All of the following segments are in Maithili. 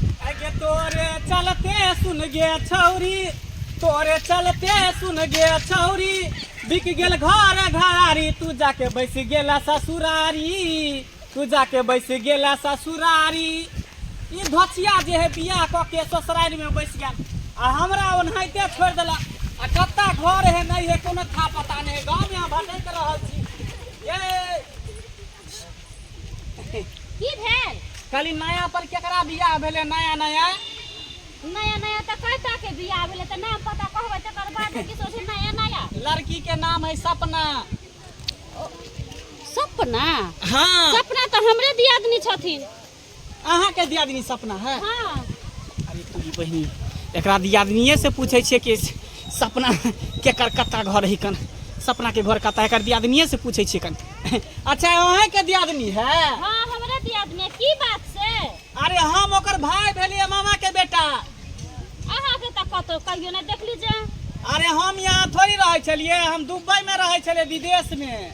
अगे तोरे चलते सुन गे छौरी तोरे चलते सुन गे छौरी बिक गेल घर घरारी तू जाके बैस गेला ससुरारी तू जाके बैस गेला ससुरारी ई धोचिया जे है बियाह कऽ के ससुरारी में बैस गेल आ हमरा ओनाहिते छोड़ देला आ कत्ता घर है नहीं है कोनो था पता नहीं गाँव में भटक रहल छी ये की भेल खाली नया पर केकरा बियाह भेले नया नया नया नया तऽ कयटा के बियाह भेलै तऽ नाम पता कहबै तकर बाद ने किछो छै नया नया लड़की के नाम है सपना सपना हाँ सपना तऽ हमरे दियादनी छथिन अहाँ के दियादनी सपना है हाँ अरे तू ई बहिनी एकरा दियादनिए से पूछे छिए कि सपना केकर कत्ता घर है कन सपना के घर कत्ता है, एकर दियादनिए से पूछे छिए कन अच्छा अहें के दियादनी है हाँ हमरा दियादनी है। की बात से अरे हम ओकर भाई भेलिए मामा के बेटा अहाँ के तक कतो कहियो ना देख लीजिए अरे हम यहाँ थोड़ी रहे छलिए हम दुबई में रहे छलिए विदेश में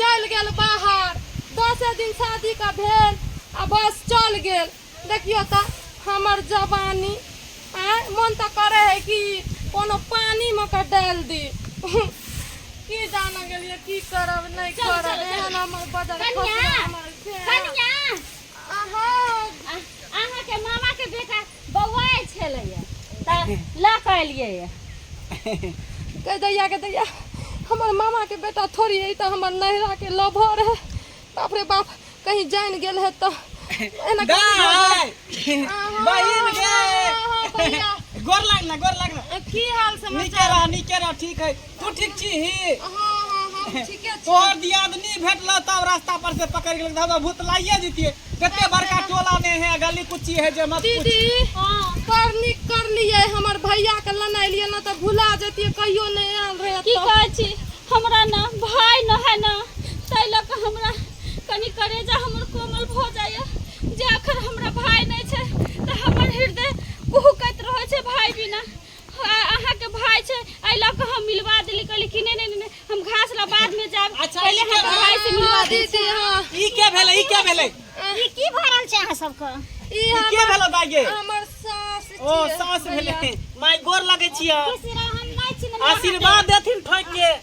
चलि गेल बाहर दसे दिन शादीके भेल आ बस चलि गेल देखियौ तऽ हमर जवानी आँय मोन तऽ करै हइ कि कोनो पानिमे कऽ डालि दी की जान गेलियै की करब नहि करब एहन हमर बदल कनिया, हमर से। कनिया अहाँ अहाँके मामा के बेटा बौआइ छलैए तऽ लऽ कऽ एलियै कहि दैया के दैया हमर मामा के बेटा थोड़ी है तऽ हमर नैहरा के लभर है बाप रे बाप कहीं जान गेल है तऽ एना गाय बहिन गे गोर लाग ना गोर लाग ना की हाल समाचार नीचे रह नीचे रह ठीक है तू ठीक छी ही हाँ हाँ हम ठीके छी तोहर दियादनी भेटल तब रास्ता पर से पकड़ गेल दादा भूत लाइए जीतिए कते बड़का टोला ने है गली कुची है जे मत पूछ दीदी हाँ कर निक कर लिए हमर भैया के लेने लिए ना तो भुला जतिए कहियो नहीं आयल रहे की तो। कहै छी हमरा न भाय न है न ताहि लऽ कऽ हमरा कनि करेजा हमर कोमल भऽ जाइए जे अखन हमरा भाय नहि छै तऽ हमर हृदय कुहुकैत रहै छै भाय बिना अहाँके भाई छै एहि लऽ कऽ हम मिलवा देली कहली कि नहि नहि नहि हम घास ला बाद में जाब अच्छा, पहिले हम भाई से मिलवा दी दीदी हाँ ई के भेलै ई के भेलै ई ई की भरल छै अहाँ सबके के भेलै बागे हमर सास ओ सास भेलै माय गोर लगै छियै हम नहि छी आशीर्वाद देथिन ठोक के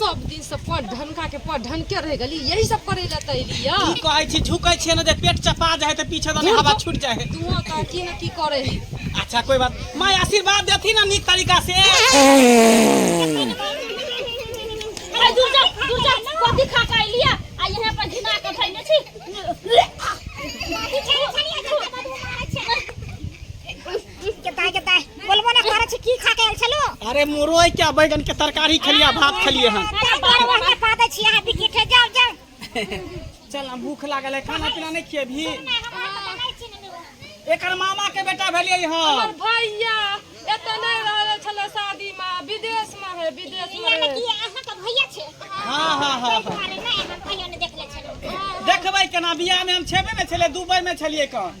सब दिन से पढ़ ढनका के पढ़ ढनके रह गली यही सब करे ला त एली या की कहै छी झुकै छियै ने जे पेट चपा जाए तऽ पीछे दने हवा छूट जाए तू त की न की करे ही अच्छा कोई बात माय आशीर्वाद देथी ना नीक तरीका से अरे दूर जा दूर जा कथी खा के अइली है? आ यहाँ पर घिना के धइले छी कथी छै छनिया अरे मुरोय क्या बैगन के तरकारी खेलिया भात खेलिए हन चल हम भूख लागल है खाना पीना नहीं खिए भी एकर मामा के बेटा भेलिए हन हमर भैया एतऽ नहि रहल छलै शादीमे विदेशमे है विदेशमे रहै। हाँ हाँ हाँ हाँ देखबै केना बियाह में हम छेबे ने छले दुबई में छलिए कन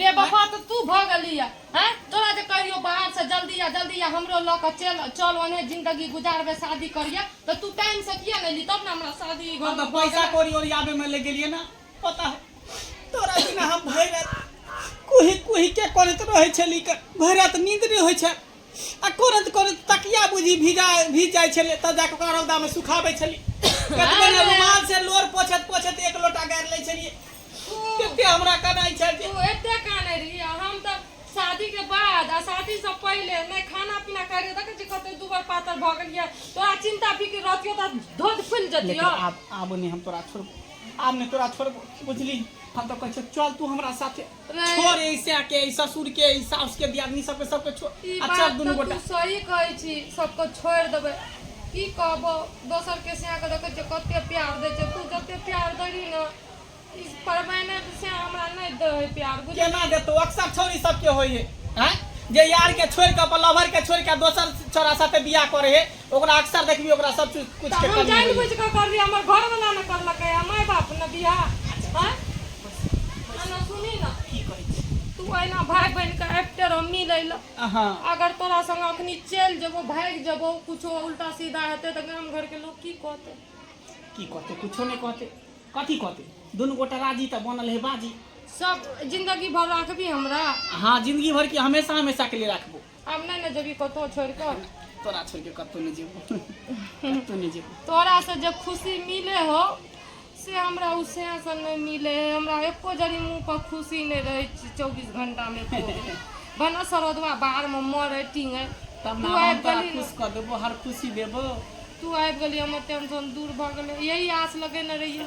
बेवफा तऽ तू भऽ गेलीह। हैं तोरा जे कहियो बाहर सँ जल्दी आ जल्दी आ हमरो लऽ कऽ चेल चल ओनहे जिन्दगी गुजारबै शादी करिहे तऽ तू टाइम सँ किए नहि एलही तब ने हमरा शादी ई घर हम तऽ मे भऽ पैसा गेलै। कौड़ी ओरियाबै मे लागि गेलियै ने पता हौ तोरा बिना हम भरि राति कुहि कुहि के करैत रहै छलियै भरि राति नींद नहि होइ छल। आ कोरत कोरत तकिया बुझी भिजा भीज जाइ छलै तब जाके ओकरा रौदा में सुखाबै छलियै कतबो ने रुमाल से लोर पोछत पोछत एक लोटा गारि लै छलियै कते हमरा कनाइ छै जे तू एते काने रही आ हम तऽ शादी के बाद आ शादी से पहिले नहि खाना पीना करे देखे छी कते दुबर पातर भऽ गेलियै तोरा चिंता फिक्र रहतियो तऽ धोध फुलि लेकिन जतियो आब आब नहि हम तोरा छोड़बो आब नहि तोरा छोड़बो बुझली हम तऽ कहै छियौ चल तू हमरा साथे छोड़ ई सैया के ई ससुर के ई सास के दियादनी सबके सबके छोड़ ई अच्छा बात दुनू तऽ गोटा तू सही कहै छी सबको छोड़ि देबै की कहबो दोसर के सिया के देखै छै कते प्यार दै छै तू जते प्यार देली ने ई परमायने से हमरा नहि दै है प्यार बुझ केना देतो अक्सर छोरी सबके होई है हैं? जे यार के छोड़ के अपन लवर के छोड़ के दोसर छोरा साथे बियाह करे है ओकरा अक्सर देखबी ओकरा सब चीज कुछ के हम कमी जान होई। बुझ के कर रही हमर घर वाला न करलकै आ माय बाप न बियाह हैं आ न सुनी न की कहै छी तू एना भाय बहन के आबिते रह मिलै ल अहाँ अगर तोरा संग अखनी चलि जेबो भागि जेबो कुछो उल्टा सीधा हेतै तऽ गाम घर के लोग की कहतै की कहते कुछो नहि कहते कथी कहते दुनू गोटा राजी तऽ बनल है बाजी सब जिंदगी भर राखबी हमरा हाँ जिंदगी भर की हमेशा हमेशा के लिए राखबो हम नहि ने जेबी कतहु छोड़ि कऽ तोरा छोड़ि कऽ कतहु नहि जेबो कतहु नहि जेबो तोरासँ जे खुशी मिले हो से हमरा ओ सेसँ नहि मिले है हमरा एको जरी मुँह पर खुशी नहि रहै छै चौबीस घंटामे एको बेर। भनऽ सरोदवा बाहरमे मरै टिंगै तब तू ने हम आबि तोरा गेली खुश ने कऽ देबो हर खुशी देबो तू आबि गेली हमर टेंशन दूर भऽ गेलै यही आस लगेने रहियै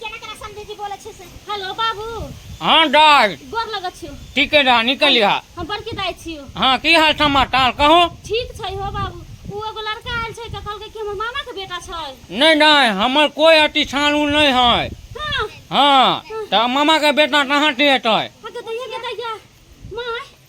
केना केना समझे जी बोले छे से हेलो बाबू हाँ दाय गोर लगे छियो ठीक है दाय निकल लिहा हम बड़की दाय छियो हाँ की हाल समाचार कहो ठीक छै हो बाबू उ एगो लड़का आयल छै त कहलकै कि हमर मामा के बेटा छै नहीं नहीं हमर कोई अति छानू नहीं है हां हाँ तो मामा के बेटा कहाँ से हेतै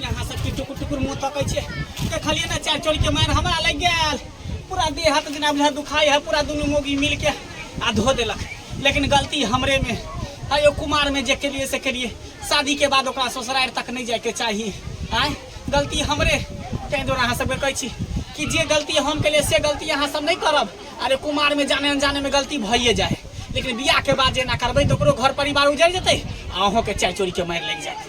यहाँ से की टुकुर टुकुर मुँह तकै छै देखलिए ना चार चोरी के मार हमरा लग गया पूरा देह हाथ जेना बुझा दुखाई है पूरा दुनू मोगी मिल के आ धो देलक लेकिन गलती हमरे में है यो कुमार में जे केलिए से केलिए शादी के बाद ओकरा ससुरार तक नहीं जाए के चाहिए आय गलती हमरे ताहि दुआरे अहाँ सबके कहै छी कि जे गलती हम केलिए से गलती अहाँ सब नहीं करब अरे कुमार में जाने अनजाने में गलती भइए जाए लेकिन बियाह के बाद जे ना करबै तो ओकरो घर परिवार उजड़ जेतै आ अहूँ के चाय चोरी के मारि लागि जाए